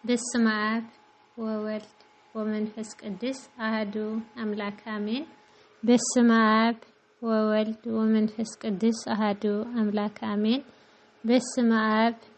በስመ አብ ወወልድ ወመንፈስ ቅዱስ አህዱ አምላክ አሜን። በስመ አብ ወወልድ ወመንፈስ ቅዱስ አህዱ አምላክ አሜን። በስመ አብ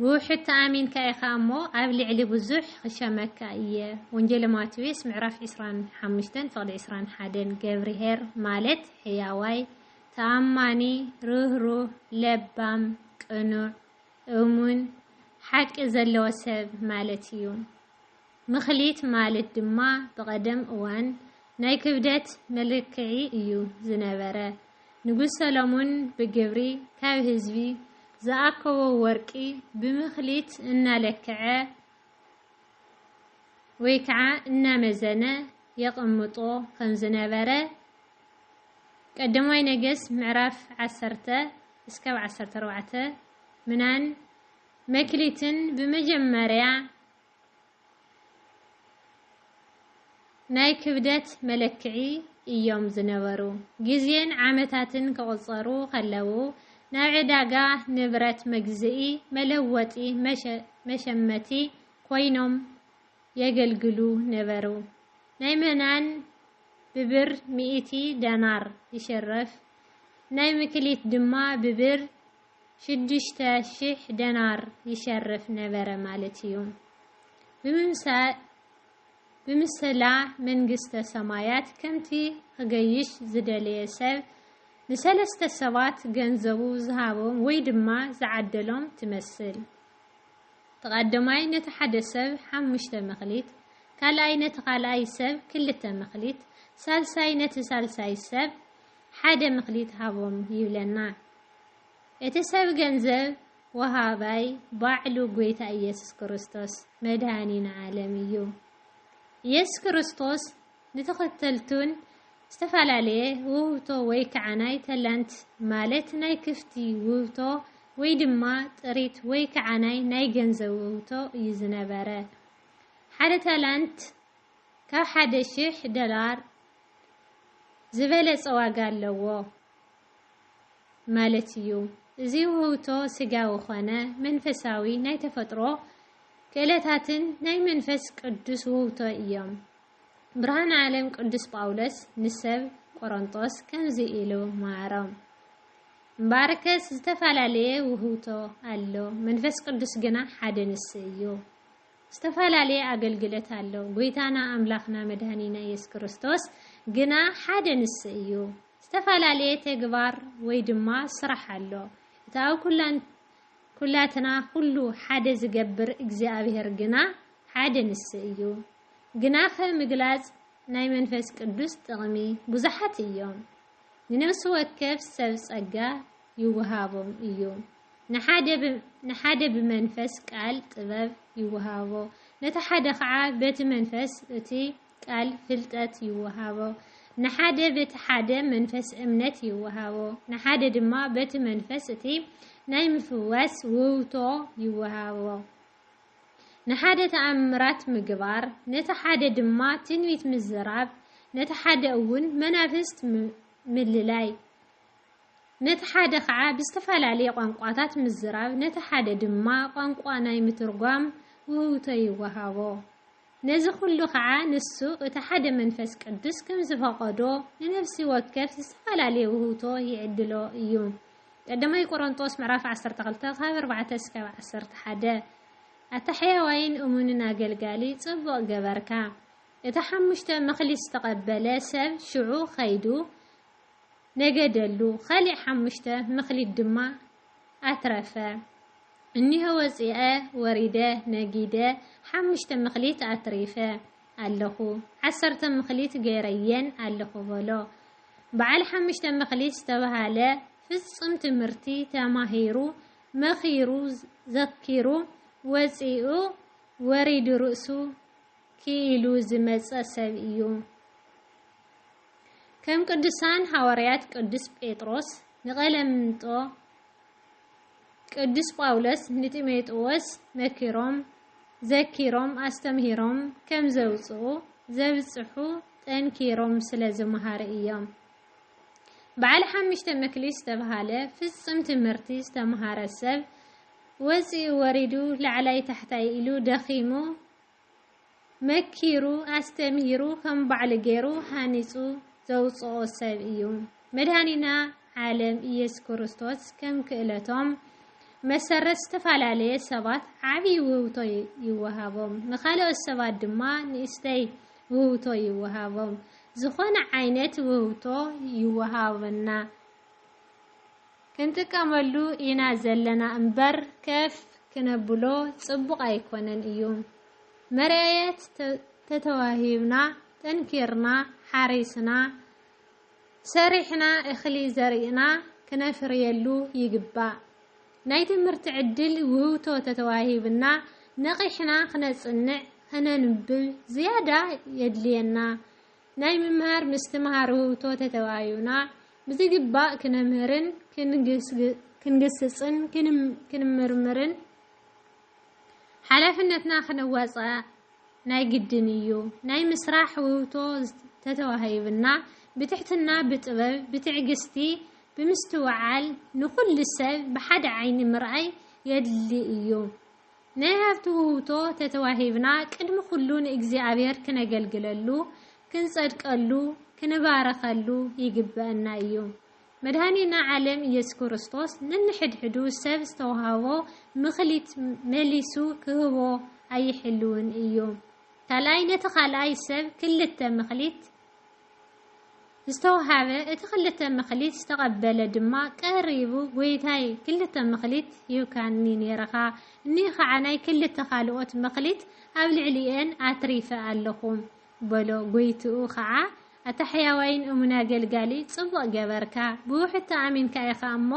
ብውሕድ ተኣሚንካ ኢኻ እሞ ኣብ ልዕሊ ብዙሕ ኽሸመካ እየ ወንጌለ ማቴዎስ ምዕራፍ ዕስራን ሓሙሽተን ፍቕዲ ዕስራን ሓደን ገብርኄር ማለት ሕያዋይ፣ ተኣማኒ፣ ርህሩህ፣ ለባም፣ ቅኑዕ፣ እሙን፣ ሓቂ ዘለዎ ሰብ ማለት እዩ። ምክሊት ማለት ድማ ብቐደም እዋን ናይ ክብደት መለክዒ እዩ ዝነበረ። ንጉስ ሰሎሙን ብግብሪ ካብ ህዝቢ ዝኣከቦ ወርቂ ብምክሊት እናለክዐ ወይ ከዓ እናመዘነ የቐምጦ ከም ዝነበረ ቀዳማይ ነገሥት ምዕራፍ ዓሰርተ እስካብ ዓሰርተ ኣርባዕተ ምናን መክሊትን ብመጀመርያ ናይ ክብደት መለክዒ እዮም ዝነበሩ። ግዜን ዓመታትን ክቕጸሩ ከለዉ፣ ናብ ዕዳጋ ንብረት መግዝኢ፣ መለወጢ፣ መሸመቲ ኮይኖም የገልግሉ ነበሩ። ናይ መናን ብብር ሚእቲ ደናር ይሽረፍ፣ ናይ ምክሊት ድማ ብብር ሽዱሽተ ሽሕ ደናር ይሸርፍ ነበረ ማለት እዩ። ብምሰላ መንግስተ ሰማያት ከምቲ ኽገይሽ ዝደለየ ሰብ ንሰለስተ ሰባት ገንዘቡ ዝሃቦም ወይ ድማ ዝዓደሎም ትመስል። እቲ ቐዳማይ ነቲ ሓደ ሰብ ሓሙሽተ መክሊት፣ ካልኣይ ነቲ ኻልኣይ ሰብ ክልተ መክሊት፣ ሳልሳይ ነቲ ሳልሳይ ሰብ ሓደ መክሊት ሃቦም ይብለና። እቲ ሰብ ገንዘብ ወሃባይ ባዕሉ ጎይታ ኢየሱስ ክርስቶስ መድኃኒና ዓለም እዩ። ኢየሱስ ክርስቶስ ንተኸተልቱን ዝተፈላለየ ውህብቶ ወይ ከዓ ናይ ተላንት ማለት ናይ ክፍቲ ውህብቶ ወይ ድማ ጥሪት ወይ ከዓ ናይ ናይ ገንዘብ ውህብቶ እዩ ዝነበረ። ሓደ ተላንት ካብ ሓደ ሽሕ ዶላር ዝበለፀ ዋጋ ኣለዎ። ማለት እዩ። እዚ ውህብቶ ስጋዊ ዀነ መንፈሳዊ ናይ ተፈጥሮ ክእለታትን ናይ መንፈስ ቅዱስ ውህብቶ እዮም። ብርሃን ዓለም ቅዱስ ጳውሎስ ንሰብ ቈረንጦስ ከምዚ ኢሉ መሃሮም፣ እምበኣርከስ ዝተፈላለየ ውህብቶ ኣሎ፣ መንፈስ ቅዱስ ግና ሓደ ንሱ እዩ። ዝተፈላለየ ኣገልግሎት ኣሎ፣ ጐይታና ኣምላኽና መድኃኒና ኢየሱስ ክርስቶስ ግና ሓደ ንሱ እዩ። ዝተፈላለየ ተግባር ወይ ድማ ስራሕ ኣሎ። እቲ ኣብ ኩላን ኩላትና ኩሉ ሓደ ዝገብር እግዚኣብሔር ግና ሓደ ንሱ እዩ። ግናኸ ምግላጽ ናይ መንፈስ ቅዱስ ጥቕሚ ብዙሓት እዮም። ንነፍሲ ወከፍ ሰብ ጸጋ ይወሃቦም እዩ። ንሓደ ንሓደ ብመንፈስ ቃል ጥበብ ይወሃቦ፣ ነቲ ሓደ ኸዓ በቲ መንፈስ እቲ ቃል ፍልጠት ይወሃቦ፣ ንሓደ በቲ ሓደ መንፈስ እምነት ይወሃቦ፣ ንሓደ ድማ በቲ መንፈስ እቲ ናይ ምፍዋስ ውህብቶ ይወሃቦ፣ ንሓደ ተኣምራት ምግባር፣ ነቲ ሓደ ድማ ትንቢት ምዝራብ፣ ነቲ ሓደ እውን መናፍስት ምልላይ፣ ነቲ ሓደ ከዓ ብዝተፈላለየ ቋንቋታት ምዝራብ፣ ነቲ ሓደ ድማ ቋንቋ ናይ ምትርጓም ውህብቶ ይወሃቦ። ነዚ ዅሉ ኸኣ ንሱ እቲ ሓደ መንፈስ ቅዱስ ከም ዝፈቐዶ ንነፍሲ ወከፍ ዝተፈላለየ ውህብቶ ይዕድሎ እዩ። ቀዳማይ ቆሮንጦስ ምዕራፍ ዓሰርተ ክልተ ካብ ኣርባዕተ እስካብ ዓሰርተ ሓደ ኣታ ሕያዋይን እሙንን ኣገልጋሊ ጽቡቕ ገበርካ። እቲ ሓሙሽተ መክሊት ዝተቐበለ ሰብ ሽዑ ከይዱ ነገደሉ፣ ኻሊእ ሓሙሽተ መክሊት ድማ ኣትረፈ። እኒሆ ወጺኣ ወሪደ ነጊደ ሓሙሽተ ምክሊት ኣትሪፈ ኣለኹ፣ ዓሰርተ ምክሊት ገይረየን ኣለኹ በሎ። በዓል ሓሙሽተ ምክሊት ዝተበሃለ ፍጹም ትምህርቲ ተማሂሩ መኺሩ ዘኪሩ ወጺኡ ወሪዱ ርእሱ ክኢሉ ዝመጸ ሰብ እዩ። ከም ቅዱሳን ሃዋርያት ቅዱስ ጴጥሮስ ንቀለምንጦ፣ ቅዱስ ጳውሎስ ንጢሞጥዎስ መኪሮም፣ ዘኪሮም፣ ኣስተምሂሮም ከም ዘውጽኡ፣ ዘብጽሑ፣ ጠንኪሮም ስለ ዝመሃሩ እዮም። በዓል ሓምሽተ መክሊት ዝተብሃለ ፍጹም ትምህርቲ ዝተምሃረ ሰብ ወጺኡ ወሪዱ ላዕላይ ታሕታይ ኢሉ ደኺሙ መኪሩ ኣስተምሂሩ ከም ባዕሉ ገይሩ ሃኒጹ ዘውጽኦ ሰብ እዩ። መድኃኒና ዓለም ኢየሱስ ክርስቶስ ከም ክእለቶም መሰረት ዝተፈላለየ ሰባት ዓቢይ ውህብቶ ይወሃቦም፣ ንኻልኦት ሰባት ድማ ንእሽተይ ውህብቶ ይወሃቦም። ዝኾነ ዓይነት ውህብቶ ይወሃበና። ክንጥቀመሉ ኢና ዘለና እምበር ከፍ ክነብሎ ጽቡቅ ኣይኮነን እዩ መርኣየት ተተዋሂብና ጠንኪርና ሓሪስና ሰሪሕና እኽሊ ዘሪእና ክነፍርየሉ ይግባእ ናይ ትምህርቲ ዕድል ውህብቶ ተተዋሂብና ነቂሕና ክነጽንዕ ክነንብብ ዝያዳ የድልየና ናይ ምምሃር ምስትምሃር ውህብቶ ተተባኢዩና ብዝግባእ ክነምህርን ክንግስጽን ክንምርምርን ሓላፍነትና ክንዋጻእ ናይ ግድን ኢዩ። ናይ ምስራሕ ውህብቶ ተተዋሂብና ብትሕትና ብጥበብ ብትዕግስቲ ብምስትውዓል ንኹሉ ሰብ ብሓደ ዓይኒ ምርኣይ የድሊ ኢዩ። ናይ ሃብቲ ውህብቶ ተተዋሂብና ቅድሚ ኩሉ ንእግዚኣብሔር ክነገልግለሉ፣ ክንጸድቀሉ፣ ክንባረኸሉ ይግበእና እዩ። መድኃኒና ዓለም ኢየሱስ ክርስቶስ ነንሕድሕዱ ሰብ ዝተዋህቦ ምክሊት መሊሱ ክህቦ ኣይሕልውን እዩ። ካልኣይ ነቲ ካልኣይ ሰብ ክልተ ምክሊት፣ ዝተውሃበ፣ እቲ ክልተ መክሊት ዝተቐበለ ድማ ቀሪቡ ጎይታይ ክልተ መክሊት ሂብካኒ ኔርኻ፣ እኒእ ኸዓ ናይ ክልተ ካልኦት መክሊት ኣብ ልዕሊኤን ኣትሪፈ ኣለኹ በሎ። ጎይትኡ ኸዓ ኣታ ሕያዋይን እሙን ኣገልጋሊ፣ ፅቡቕ ገበርካ፣ ብውሕድቲ ኣሚንካ ኢኻ እሞ፣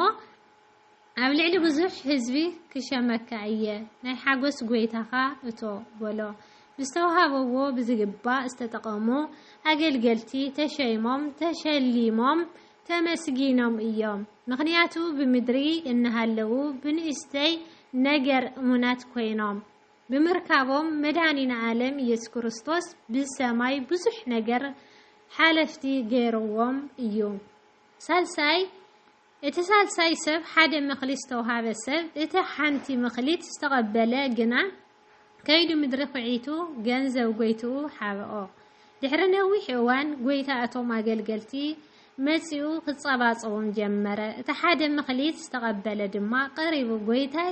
ኣብ ልዕሊ ብዙሕ ህዝቢ ክሸመካ እየ፣ ናይ ሓጐስ ጐይታኻ እቶ በሎ። ብዝተዋህበዎ ብዝግባእ ዝተጠቐሙ ኣገልገልቲ ተሸይሞም፣ ተሸሊሞም፣ ተመስጊኖም እዮም። ምኽንያቱ ብምድሪ እናሃለዉ ብንእሽተይ ነገር እሙናት ኰይኖም ብምርካቦም መድኃኒና ዓለም ኢየሱስ ክርስቶስ ብሰማይ ብዙሕ ነገር ሓለፍቲ ገይርዎም እዩ። ሳልሳይ እቲ ሳልሳይ ሰብ ሓደ መክሊት ዝተውሃበ ሰብ እቲ ሓንቲ ምክሊት ዝተቐበለ ግና ከይዱ ምድሪ ኹዒቱ ገንዘብ ጎይትኡ ሓብኦ። ድሕሪ ነዊሕ እዋን ጎይታ እቶም ኣገልገልቲ መጺኡ ክጸባጸቦም ጀመረ። እቲ ሓደ ምክሊት ዝተቐበለ ድማ ቀሪቡ ጎይታይ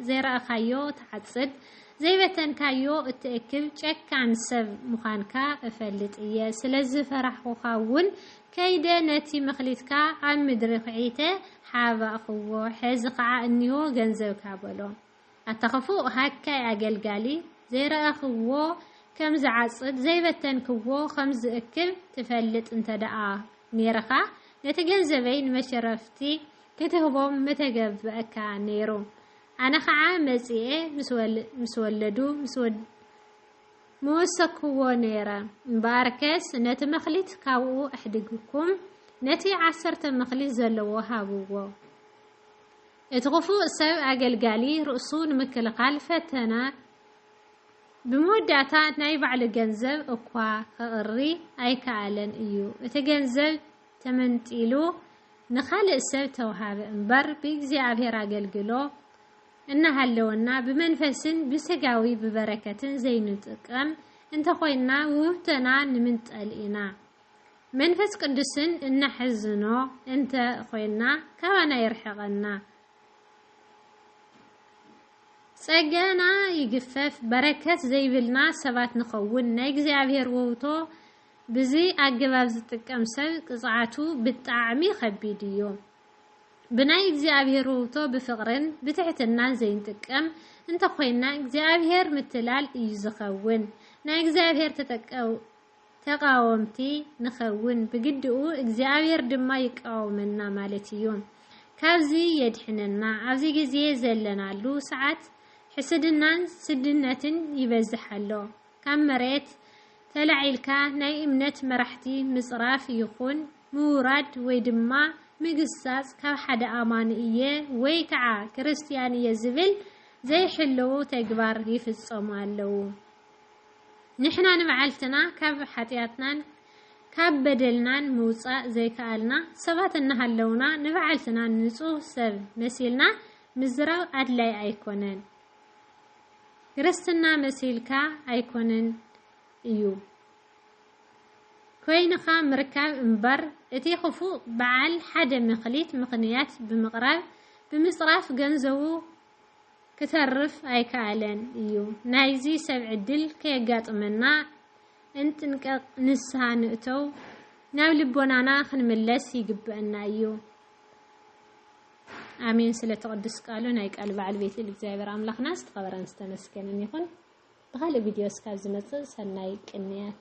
ዘይረኣኻዮ ትዓጽድ ዘይበተንካዮ እትእክብ ጨካን ሰብ ምዃንካ እፈልጥ እየ፣ ስለዝፈራሕኹኻ እውን ከይደ ነቲ መክሊትካ ኣብ ምድሪ ዅዒተ ሓባእኩዎ፣ ሕዚ ኸዓ እንሆ ገንዘብካ በሎ። ኣታ ኽፉእ ሃካይ ኣገልጋሊ፣ ዘይረኣኽዎ ኸም ዝዓጽድ፣ ዘይበተንክዎ ኸም ዝእክብ ትፈልጥ እንተ ደኣ ኔርኻ፣ ነቲ ገንዘበይ ንመሸረፍቲ ኽትህቦም ምተገብኣካ ነይሩ። ኣነ ኸዓ መጺኤ ምስ ወለዱ፣ ምስ። ምወሰክዎ ነይረ። እምበኣርከስ ነቲ መክሊት ካብኡ ኣሕዲግኩም ነቲ ዓሰርተ መክሊት ዘለዎ ሃብዎ። እቲ ክፉእ ሰብ ኣገልጋሊ ርእሱ ንምክልኻል ፈተና ብመወዳእታ ናይ ባዕሉ ገንዘብ እኳ ከቕሪ ኣይከኣለን እዩ። እቲ ገንዘብ ተመንጢሉ ንኻልእ ሰብ ተውሃበ እምበር ብእግዚኣብሔር ኣገልግሎ እናሃለወና ብመንፈስን ብሥጋዊ ብበረከትን ዘይንጥቀም እንተኾይንና ውህብቶና ንምንጠል ኢና። መንፈስ ቅዱስን እነሕዝኖ እንተ ኾይንና ካባና ይርሕቐና። ጸጋና ይግፈፍ በረከት ዘይብልና ሰባት ንኸውን። ናይ እግዚኣብሔር ውህብቶ ብዚ ኣገባብ ዝጥቀም ሰብ ቅፅዓቱ ብጣዕሚ ኸቢድ እዩ። ብናይ እግዚኣብሔር ውህብቶ ብፍቕርን ብትሕትናን ዘይንጥቀም እንተ ኾይንና እግዚኣብሔር ምትላል እዩ ዝኸውን። ናይ እግዚኣብሔር ተቓወምቲ ንኸውን ብግዲኡ እግዚኣብሔር ድማ ይቃወመና ማለት እዩ። ካብዚ የድሕነና። ኣብዚ ግዜ ዘለናሉ ሰዓት ሕስድናን ስድነትን ይበዝሕ ኣሎ። ካብ መሬት ተላዒልካ ናይ እምነት መራሕቲ ምጽራፍ ይኹን ምውራድ ወይ ድማ ምግሳጽ ካብ ሓደ ኣማኒ እየ ወይ ከዓ ክርስትያን እየ ዝብል ዘይሕልው ተግባር ይፍጸሙ ኣለው። ንሕና ንባዕልትና ካብ ሓጢኣትናን ካብ በደልናን ምውጻእ ዘይከኣልና ሰባት እናሃለውና ንባዕልትና ንጹህ ሰብ መሲልና ምዝራብ ኣድላይ ኣይኮነን። ክርስትና መሲልካ ኣይኮነን እዩ ኮይንኻ ምርካብ እምበር እቲ ክፉእ በዓል ሓደ መክሊት ምኽንያት ብምቕራብ ብምፅራፍ ገንዘቡ ክተርፍ ኣይከኣለን እዩ። ናይዚ ሰብ ዕድል ከየጋጥመና እንጥንቀቕ ንስሃ ንእተው ናብ ልቦናና ክንምለስ ይግበእና እዩ። ኣሜን ስለ እቲ ቅዱስ ቃሉ ናይ ቃል በዓል ቤት ልል እግዚኣብሔር ኣምላኽና ዝተኸበረን ዝተመስገንን ይኹን። ብኻልእ ቪድዮ እስካብ ዝመጽእ ሰናይ ቅንያት።